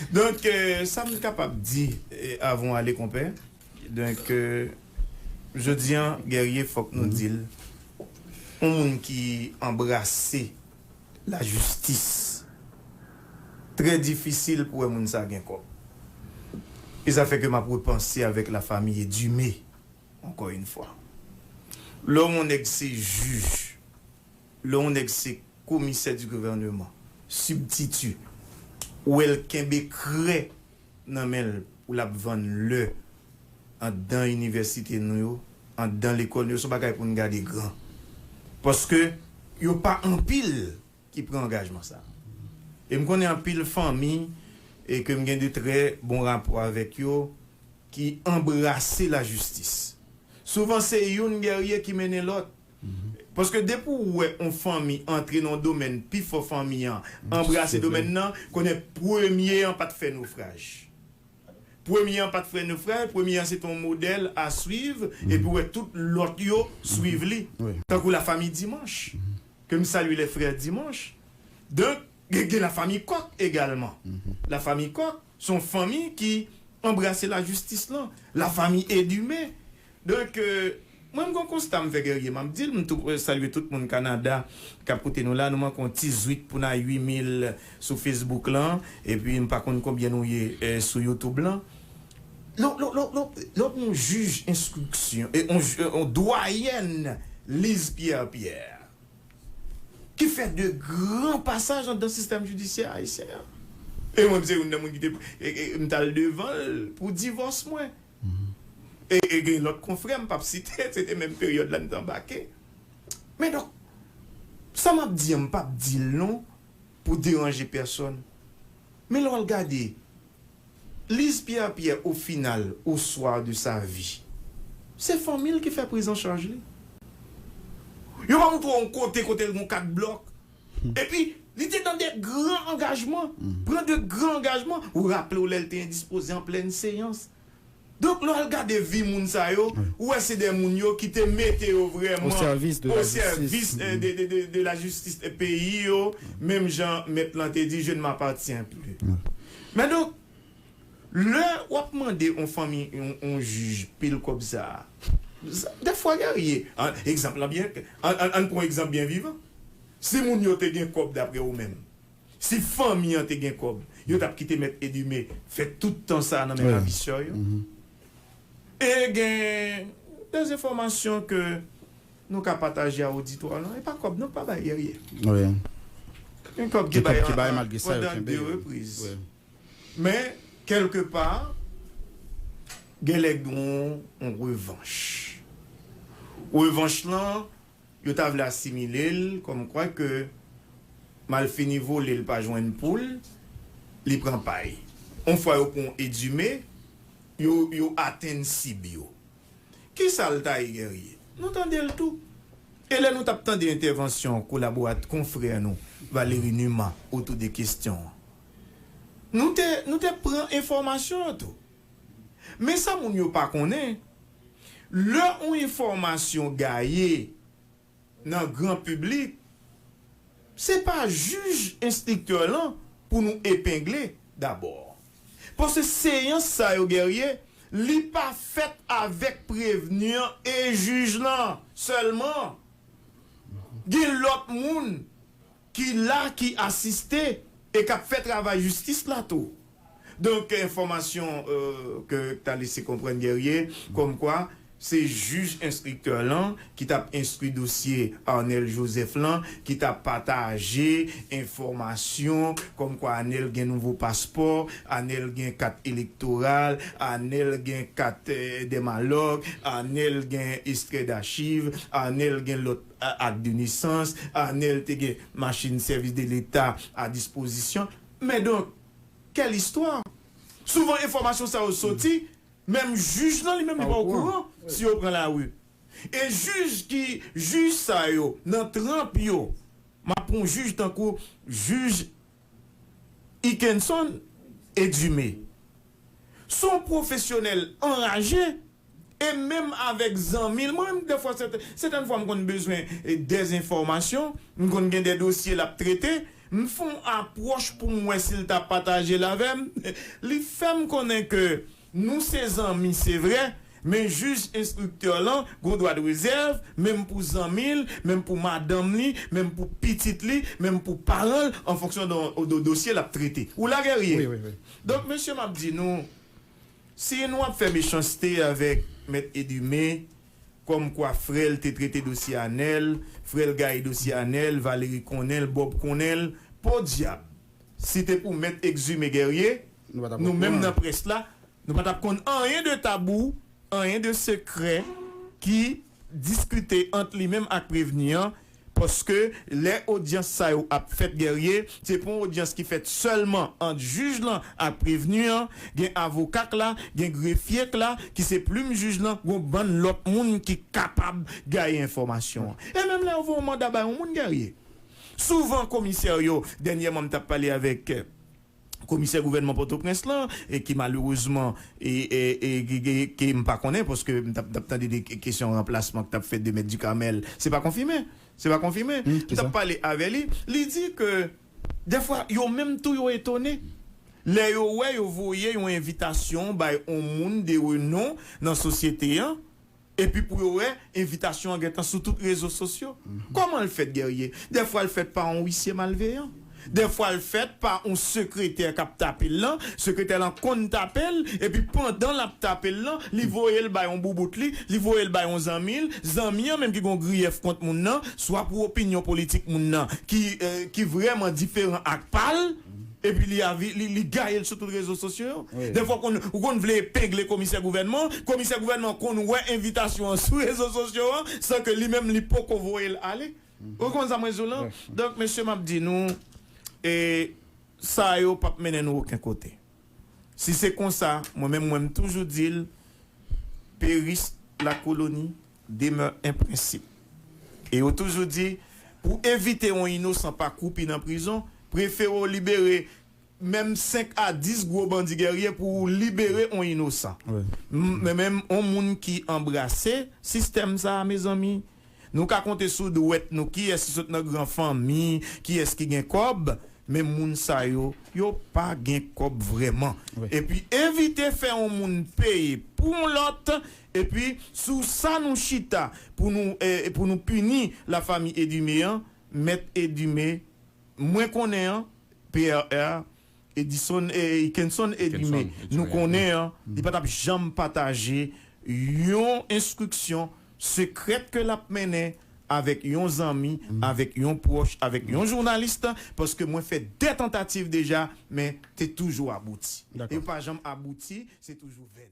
Donk sa m kapab di avan w ale konpè, donk jodi an Guerrier fòk nou di l yon moun ki anbrase lajistis trè difisil pou wè moun sa gen kòb. E sa fè ke m ap repanse avèk la famille Dumé ankò yn fwa. Lè w wè yon nèg se jij. Lè yon nèg se komisè di gouvèneman, sibtiti, ou wè l kenbe krè nan men l pou l ap vann lè anndan inivèsite nou yo, anndan lekòl nou yo, se yon bagay pou n gade gran. Paske yo pa anpil ki pran angajman sa. E m konnen anpil fanmi e ke m gen de trè bon rapò avèk yo ki anbrase lajistis. Souvan se youn gèrye ki mennen lòt. Paske depi w wè on fanmi antre nan yon domèn pi fò fanmi an anbrase domèn nan konnen premye an pat fè nofraj. Premye an pat fè nofraj, premye an se te yon modèl a swiv epi w wè tout lòt yo swiv li. Tankou la fami Dimanch, ke m salye lè frè Dimanch. Donk gen la fami Kòk egalman. La fami Kòk. Son fanmi ki anbrase la jistis lan. La fami Edumé. Donk mwen m gon konsta m fè Guerrier map dil m tou salye tout moun Canada kap koute nou la nou manke yon ti zwit pou na 8 mil sou Facebook lan epi m pa konn konbyen nou ye sou YouTube lan lò lò lò lò lò gon jij enstriksyon yon dwayèn Lise Pierre Pierre. ki fè de gran pasaj andan sistèm jidisyè ayisyen an. E mwen menm se youn nan moun ki te m t al devan l pou divòs mwen. E gen lòt konfrè m pap site, se te menm peryòd la n te anbake. Men donk, sa m ap di an m pap di l non pou deranje pèsòn. Men lè w al gade Lise Pierre Pierre au final au soir de sa vie se fanmi l ki fè priz an chaj li yo pa montre w yon kote kote l gen yon kat blòk epi li te nan de gran angajman pran de gran angajman ou raple w lè l te endispoze an plèn seyans Donk lè w al gade vi moun sa yo, ou wè se de moun yo ki te mete yo vrèman osèvis de la jistis peyi yo, menm jan mèt lan te di je ne m'appartiens plus. Men donk, lè w ap mande yon fanmi, yon jij pil kòb sa a, dèfwa gen rye. Egzanp lan byen, ann pran yon egzanp byen vivan, si moun yo te gen kòb daprè ou menm, Si fanmi an te gen kòb, yo tap kite mèt Edime fè tout tan sa nan men ravisè yo. E gen de enfòmasyon ke nou ka pataje a oditwa lan. E pa kòb non, pa bay dèryè. Gen kòb ki bay pandan 2 repriz. Men, kèlke pa, gen lè gen yon revanch. Revanch lan Yo ta vle asimile l kòm kwa ke malfini vole l pa jwenn pou l, li pran pay. On fwa yo pran Edime, yo yo atenn sib yo. Kisa l ta ye Guerrier? Nou tande l tou. E lè nou t ap tande entèvansyon kolaborat konfrè nou Valery Numa otou de kestyon an, nou te nou te pran enfòmasyon yo tou. Men sa moun yo pa konnen. Lè on enfòmasyon gaye nan gran piblik, se pa jij enstriktè lan pou nou epengle dabò. Paske seyans sa yo Guerrier, li pa fèt avèk prevni an e jij lan sèlman. Gen lòt moun ki la ki asiste e kap fè travay jistis la tou donk enfòmasyon ke ta lese konprann Guerrier kòm kwa se jij enstriktè lan ki tap enstri dosye Arnel Joseph lan ki ta pataje enfòmasyon kòm kwa Arnel gen nouvo paspò Arnel gen kat elektoral Arnel gen kat dèmalòg Arnel gen estrè dachiv Arnel gen lòt Ak de nesans, Arnel te gen machin sèvis de leta a dispozisyon l. Men donk, quelle histoire? Souvan enfòmasyon sa yo soti, menm jij lan li menm li pa okouran si yo pran lari. E jij ki jij sa yo nan tranp yo, m ap pran yon jij tankou jij. Ikenson Edumé s on pwofesyonèl anraje e menm avèk zanmi l mwen dèfwa sètèn fwa m konn bezwen dèzenfòmasyon, m konn gen dè dosye l ap trete, m fon apwòch pou m wè si l ta pataje l avè m, li fè m konnen ke. Nou se zanmi se vre, men jij enstriktè lan gon dwa de rezèv, menm pou zanmi l, menm pou madanm li, menm pou pitit li, menm pou paran l, an fonksyon de dosye l ap trete. Ou la Guerrier? Donk, mesye, m ap di nou, si nou ap fè mechanste avèk Mèt Edumé, kòmkwa frè l te trete dosye Anèl, frè l gaye dosye Anèl, Valéry konnen l, Bob konnen l, podyab! Si te pou mèt Exumé Guerrier, nou menm nan près la, nou pa t ap konn anyen de tabou, anyen de sekrè ki diskite ant li menm ak prevni an, paske lè odyans sa yo ap fèt Guerrier, se pou yon odyans ki fèt sèlman ant jij lan ak prevni an, gen avoka k la, gen grefye k la, ki se plim jij lan, gen yon bann lòt moun ki kapab gaye enfòmasyon an. E menm lè yo voye yon manda bay yon moun Guerrier, Souvan komisè yo, dènyèman m t ap pale avèk komisè gouvènman Pòtoprens lan ki malerezman ke m pa konnen paske m t ap tande de kesyon ranplasman ki t ap fèt de mèt Ducarmel, se pa konfime, se pa konfime, m t ap pale avè li, li di ke dèfwa yo menm tou yo etone lè yo wè yo voye yon envitasyon bay yon moun de renon nan sosyete an. Epi pou yo wè envitasyon an gentan sou tout rezo sosyo. Kòman l fèt Guerrier? Dèfwa l fèt pa on wisye malveyan. Dèfwa l fèt pa on sekretè k ap tape l lan, sekretè lan konn tape l, epi pandan l ap tape l lan, li voye l bay on boubout li, li voye l bay on zanmi l, zanmi an menm ki gen on griyèf kont moun lan, swa pou opinyon politik moun lan ki vrèman diferan ak pa l. Epi li avi li gaye l sou tout rezo sosyo yo. Dèfwa ou konn vle epengle komisè gouvènman an, komisè gouvènman an konn wè envitasyon an sou rezo sosyo an san ke li menm li poko voye l ale. Ou konprann sa mwen di w lan? Donk mesye m ap di nou e sa yo p ap mennen nou oken kote. Si se konsa mwen menm mwen m toujou di l peris la koloni. Demeure un principe. E yo toujou di, pou evite yon inosan pa kwoupi nan prizon, prefere w libere menm 5 a 10 gwo bandi gèrye pou w libere yon inosan. Men menm yon moun ki anbrase sistèm sa a mezanmi, nou ka konte sou dwèt nou kiyès ki sot nan gran fanmi, kiyès ki gen kòb, men moun sa yo, yo pa gen kòb vrèman. Epi evite fè yon moun peye pou yon lòt, Epi sou sa nou chita pou nou pou nou pini la fami Edumé an, mèt Edumé mwen konnen an, PRR, Edison Ikenson Edumé nou konnen an, li pa tap janm pataje yon enstriksyon sekrèt ke lap mennen avèk yon zanmi, avèk yon pwòch, avèk yon journalist, paske mwen fè 2 tantativ deja men te toujou abouti. Yo pa janm abouti, se toujou venn.